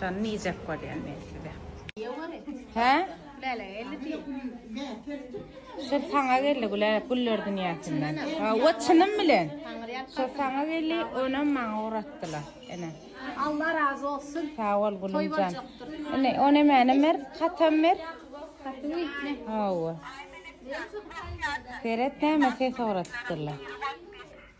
Şony nijek bolýan men size. Hä? Lälä geldi diýen. Şo saňa geldi güle güller dünýäsinden. Hawa çynym bilen. Şo saňa geldi onam maňa uratdylar. Ene. Allah razy bolsun. Sag bol gülümjan. Ene ony mäne mer katam mer. Hawa. Seret näme ses uratdylar.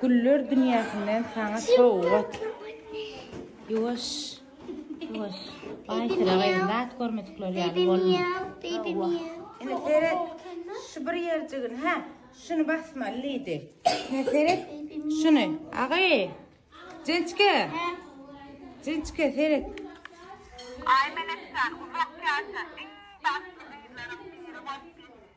Güller dünýäsinden saňa sowgat. Ýuwaş. Ýuwaş. Aýsira gyzym, zat görmedikler ýaly bolma. Ine seret, şu bir ýerjigini, hä? Şuny basmaly diýdi. Ine seret, şuny. Agy. Jençke. Jençke seret. Aý Melekjan, uzak ýaşa. Iň bagtly gyzlaryň biri bolup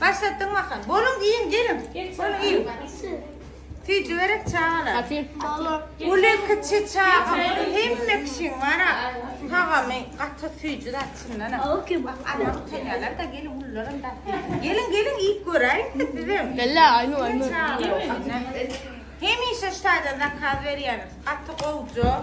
Başlatdyň bakan. Boluň iýiň geliň. Boluň iýiň. Süýji berek çagalar. Uly kiçi çaga hemme kişiň bara. Tagamy gaty süýji zat çyndan. Bak ana utanýarlar da gelin ullaram da. Gelin gelin iýip göräýiň siz bizem. Bella aýnu aýnu. Hemişe şu taýdan zakaz berýäris. Gaty gowja.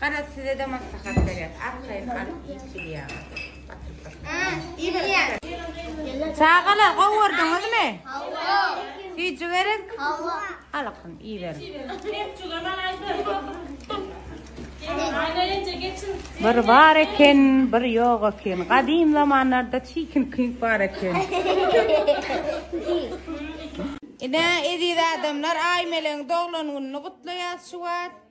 Garaz sizede maslahat berýäs arkaýyn alyp iýip gidýäňiz batyryp batyryp. Iýiberipdir. Çagalar gowurdyňyzmy? Hawa. Süýji gerek? Hawa. Alykyn iýiberiň. Bir bar eken, bir ýok eken. Gadym zamanlarda çikin kink bar eken. Ine, eziz adamlar, Aýmelegiň doglan gününi gutlaýas şu wagt.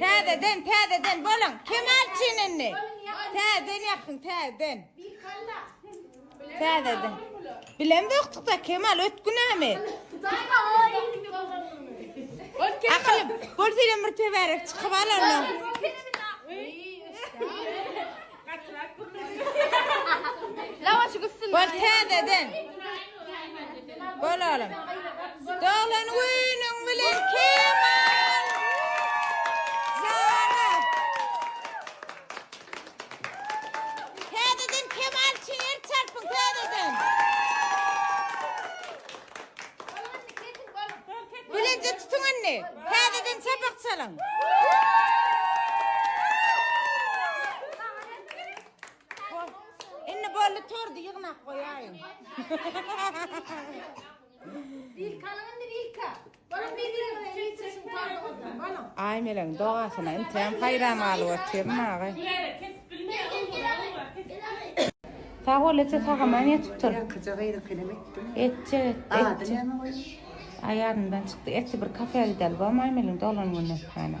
Täzeden, täzeden bolun. Kemal çinini. Täzeden yapyň, täzeden. Bir kalla. Täzeden. Bilem döktükde Kemal ötgünämi? Akyl, bol senem bir teberek çykyp al onda. Lavaşy gitsin. Bol täzeden. Bol oğlum. Doğlan günün bilen Kemal. Zara. Täzeden kemal üçin el çarpyň täzeden. Bileje tutuň indi. Täzeden çapak çalyň. Indi boldy tordy ýygnak goýaýyň. Wilkanyň indi wilka. Aýmeleň dogasyna inteýan haýran galyp otyryn aga. Sag bol eje sagaman ýetip dur. Ýakyja gyzyk elem etdim. Etjek et. Ady näme bolýa? Aý ýadymdan çykdy. Etli bir kafeä gideli bormy Aýmeliň dolan gününe sütana.